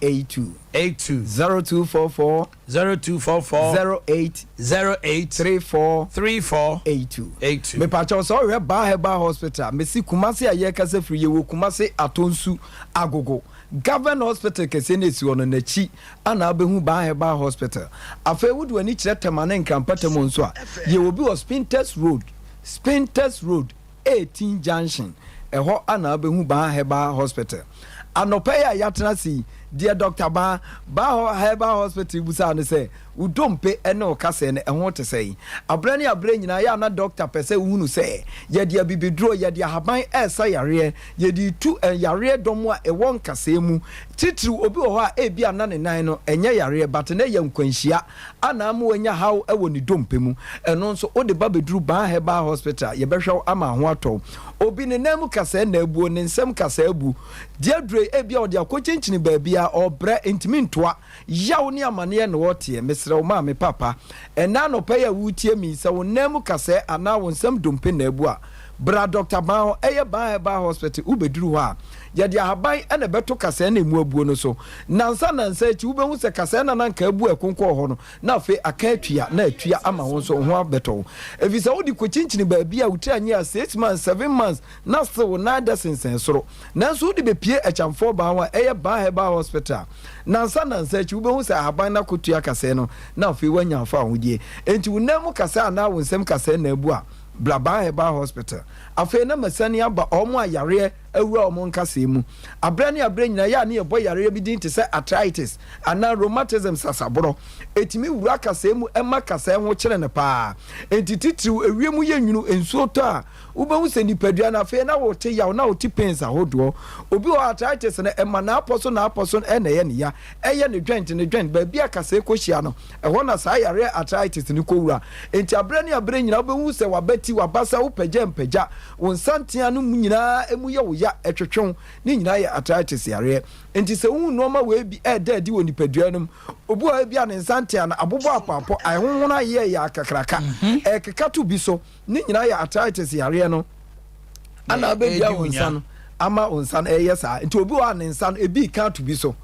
eight two. eight two. zero two four four. zero two four four. zero eight. zero eight. three four. three four. eight two. eight two. mepatwɛw sɛ ɔhwɛ baa herbal hospital mesi kumase a yɛkasa firi yɛwɔ kumase atɔnsu agogo government hospital kɛseɛ no esi hɔ no n'akyi ana abɛhu baa herbal hospital afei wode w'ani kyerɛ tɛma ne nkrampatam nso a yɛwɔ bi wɔ spintex road spintex road 18 junction, ɛhɔ ana wobɛhu Baa Herbal Hospital. Anɔpa yi a yɛatena ase yi, deɛ Dɔkta Baa, Baa Herbal Hospital bisaa no sɛ, Wo dompe ne wo kaseɛ no, ɛho te sɛn? Aberɛ ne aberɛ nyinaa, yɛ a na dɔkta pɛ sɛ ɔhunu sɛ, yɛde abibiduro, yɛde ahaban resa yareɛ, yɛde retu yareɛ dɔm a ɛwɔ nkasɛɛ mu, titiriw obi wɔ hɔ a ebia na ne nan no, ɛnyɛ yareɛ, but na ɛyɛ nkwanhyia. Ana ama wanya haw wɔ ne dompe mu? Ɛno nso, wode ba bɛduru Baa Herbal Hospital a, yɛbɛhwɛ wo ama ho atɔ wo. Obi, ne nan mu kasaa na abuo, ne nsam kasaa abu. Deɛ aduro yi, ebia ɔde akɔkyinkyini baabiara, ɔrebrɛ, ntumi ntoa. Yaw ne amaneɛ na ɔreteɛ. Mesrɛ wo ma me papa, ɛnnɛ anɔpa yi a woretie me yi, sɛ wo nan mu kasaa anaa wo nsam dompe na abu a, Bra Doctor Ban hɔ, ɛyɛ Ban Herbal Hospital, wobɛduru hɔ a, yɛde ahaban na ɛbɛto kasɛɛ na ɛmu abuo no so. Nansa nansa akyi, wobɛhu sɛ kasɛɛ no a na anka abu a ɛkonkɔɔ hɔ no, na afei aka atua, na atua ama wo nso, wo ho abɛtɔ wo. Ɛfiri sɛ wode kɔkyinkyini baabi a wo tiri anyɛ a six months, seven months, na still wo nan dɛ sensɛn soro. Nanso wode bɛpue Akyamfoɔ Ban hɔ a, ɛyɛ Ban Herbal Hospital a, nansa nansa akyi, wobɛhu sɛ ahaban no akɔtua kasɛɛ no, na afei woanya wo fɛ ahodeɛ. Enti wo nan mu kasɛɛ anaa wo nsam kasɛɛ na abu a, Blabaa Herbal Hospital. Afei na masane aba wɔn a yareɛ awura wɔn nkasɛɛ mu aberɛ ne aberɛ nyinaa, ɛyɛ a na yɛbɔ yareɛ bi din te sɛ arthritis anaa rheumatism, sasaborɔ. Ɛtumi wura kasɛɛ mu ma kasɛɛ ho kyere no pa ara. Enti titiriw ewiem yɛ nwunu, nsuo tɔ a, wobɛhu sɛ nipadua no afei na wote yaw na wote pains ahodoɔ. Obi wɔ hɔ a arthritis no ɛma n'apɔ so n'apɔ so na ɛyɛ no ya, ɛyɛ ne joint ne joint, baabi a kasɛɛ kɔhyia no Ɛhɔ na saa yareɛ arthritis no kɔwura. Enti aberɛ ne aberɛ nyinaa wobɛhu sɛ w'abati, w'abasa, wo pagyampagya, wo nsantea no mu nyinaa ɛmu yɛ wo ya, ɛtwetwe wo. Ne nyinaa yɛ arthritis yareɛ. Enti sɛ wohu nnoɔma wei bi ɛreda adi wɔ nipadua no mu, obi wɔ hɔ a ebia ne nsantea no abobɔ apɔapɔ, ayɛ honhono ayeyɛyeyɛ akakraka, ɛrekeka to bi so, Ne nyinaa yɛ arthritis yareɛ no ana abɛdua wo nsa no ama wo nsa no ɛyɛ saa nti obi wɔ a ne nsa no ebi ka to bi so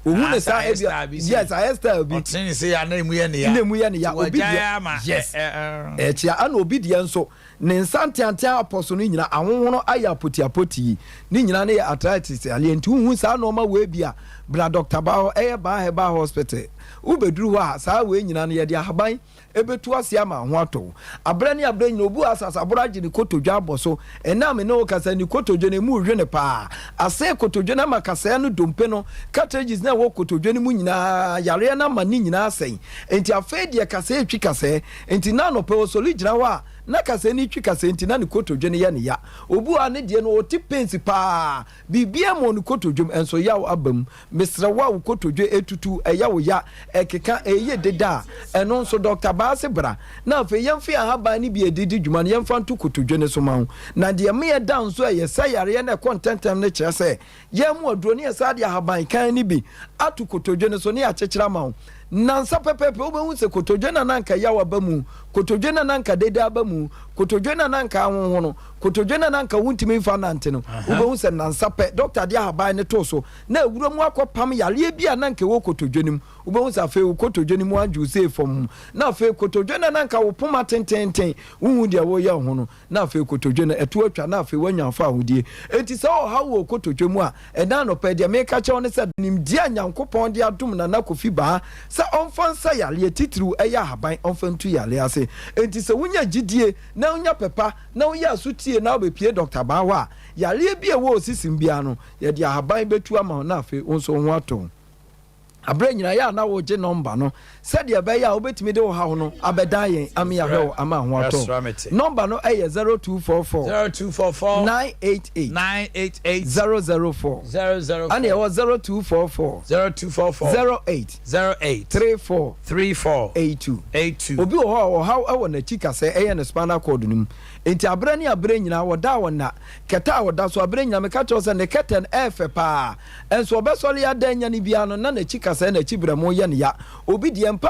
ohun ne saa ebi yes ayɛ style bi ɔtene ne se ya na emu yɛ ne ya na emu yɛ ne ya obi deɛ yes ɛkyia ana obi deɛ nso ne nsa nteantea apɔ so no nyina ahohono ayɛ apoti apoti yi ne nyina ne yɛ arthritis aleɛ nti wohu saa nɔɔma wei bi a bra dɔkta ba hɔ ɛyɛ baa hɛ baa hospital wobɛduru hɔ a saa wei nyina no yɛde ahaban ebetu ase ama ho atɔ wo. Aberɛ ne aberɛ nyina obu asase aboro agye ne kotodwe abɔ so. Ɛnnɛ a me ne wo kasa yi, ne kotodwe no, emu rewe no paa. Asɛe kotodwe no ama kasaeɛ no dompe no, cartridges no a ɛwɔ kotodwe no mu nyina ara, yareɛ no ama ne nyina ara asɛe. Enti afei deɛ kasaeɛ retwi kasaeɛ. Enti na anɔpa Osoli gyina hɔ a, na kasaeɛ no retwi kasaeɛ nti na ne kotodwe no yɛ no ya. Obu a ne deɛ no, ɔte pains paa. Biribiara mmɔɔ no kotodwe mu, nso yaw aba mu. Mesrɛ wo a wo kotodwe retutu, ɛyɛ wo ya, ɛkeka, ɛreyɛ dede a, ɛno nso, dɔkta Baase bra, na afei yɛmfe ahaban no bi a ɛde di dwuma no yɛmfa nto kotodwe no so mma wo. Na deɛ ɛma yɛda nso a ɛyɛ sɛ yareɛ no ɛkɔ ntɛmntɛm no kyerɛ sɛ, yɛamu aduro no, yɛsan de ahaban kann no bi ato kotodwe no so na yɛakyekyere ama wo. Nnansa pɛpɛɛpɛ wobɛhu sɛ kotodwe no a na anka yaw aba mu, kotodwe no a na anka dede aba mu, kotodwe no a na anka ahonhono, Kotodwe no a na anka wontumi mfa nnante no, wobɛhu sɛ nnansa pɛ dɔkta de ahaban no too so na awura mu akɔpam yareɛ bi a na anka ɛwɔ kotodwe no mu. Wobɛhu sɛ afei wo kotodwe no mu adwo sei fam ho, na afei kotodwe no a na anka wo poma tenteenten, wonhu deɛ woreyɛ wɔ ho no, na afei kotodwe no ɛto atwa na afei woanya fawohodie. Enti sɛ ɔhaw wɔ wo kotodwe mu a, ɛnnɛ anɔpa yi, deɛ mereka akyerɛ wo ne sɛ, nimdeɛ a Nyankopɔn de adom Nana Kofi Baa sɛ ɔmfa nsa yareɛ, titiriw ɛyɛ ahaban, ɔmfa ntu yareɛ ase. Enti sɛ wonya gyidie, na wonya pɛ pa na woyɛ aso tie na wobɛpie dɔkta baa hɔ a, yareɛ bi a ɛwɔ wo sisim biara no, yɛde ahaban bɛtu ama wo na afei wo nso wo ho atɔ wo. Aberɛ nyinaa yɛ a na wogye nɔmba no sɛdeɛ ɛbɛyɛ a wobɛtumi de wo haw no abɛdan yɛn ama yɛahwɛ wo ama ho atɔ wo. Nɔmba no yɛ 0244 988 004 ɛne ɛwɔ 0244 08 Zero eight. Three four. Three four. Eight two. Eight two. Obi wɔ hɔ a ɔhaw wɔ n'akyi kasɛ ɛyɛ no spinal cord no mu nti abrɛ ne abrɛ nyinaa ɔda a ɔnna kɛtɛ a ɔda so abrɛ nyinaa meka kyerɛ wo sɛ ne kɛtɛ no ɛɛfɛ paa nso ɔbɛsɔre ada anyane biara no na n'akyi kasɛ na akyi brɛmo yɛ no ya obi deɛ mpa